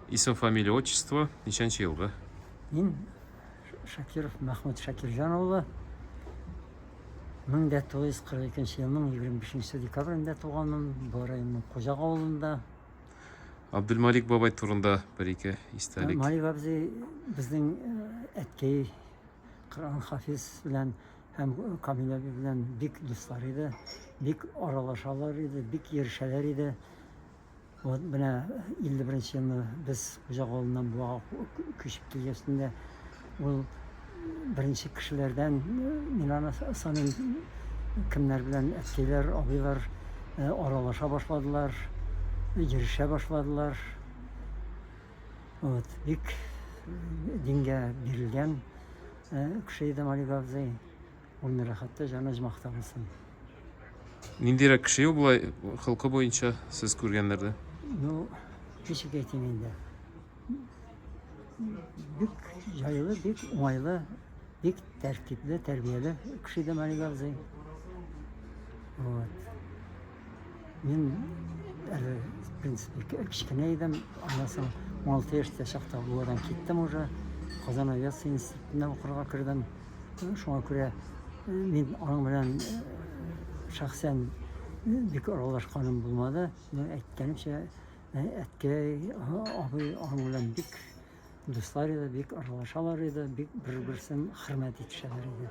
Исем, фамилия, отчество, ничәнче елгы? Мин Шакиров Мәхмүт Шакирҗан улы. 1942 елның 25 декабрендә туганмын, бу районның Кузак авылында. Абдулмалик бабай турында бер-ике истәлек. Малик абзый безнең э, әткәй Коран хафиз белән һәм Камил әби белән бик дуслар иде, бик аралашалар иде, бик йөрешәләр иде. Вот менә 51 елны без Хуҗак авылыннан Буага күчеп килгәч инде ул беренче кешеләрдән мин аны саныйм кемнәр белән әткәйләр, абыйлар э, аралаша башладылар, йөрешә башладылар. Вот, бик дингә бирелгән э, кеше иде Малик абзый. Ул не рәхәттә җан әҗмахтан сын. Ниндирәк кеше ул болай хылкы буенча сез күргәннәрдә? Ну, ничек әйтим инде? Бик җайлы, бик уңайлы, бик тәртипле, тәрбияле кеше дә Мария абзый. Вот. Мин әле, в принципе, кечкенә идем, аннан соң 16 яшьтә чакта Буадан киттем уже. Казан авиация институтына укырга кердем. Шуңа күрә мин аның белән шәхсән бик аралашканым булмады. Мин әйткәнемчә, әткәй, абый аның белән бик дуслар иде, бик аралашалар иде, бик бер-берсен хөрмәт итешәләр иде.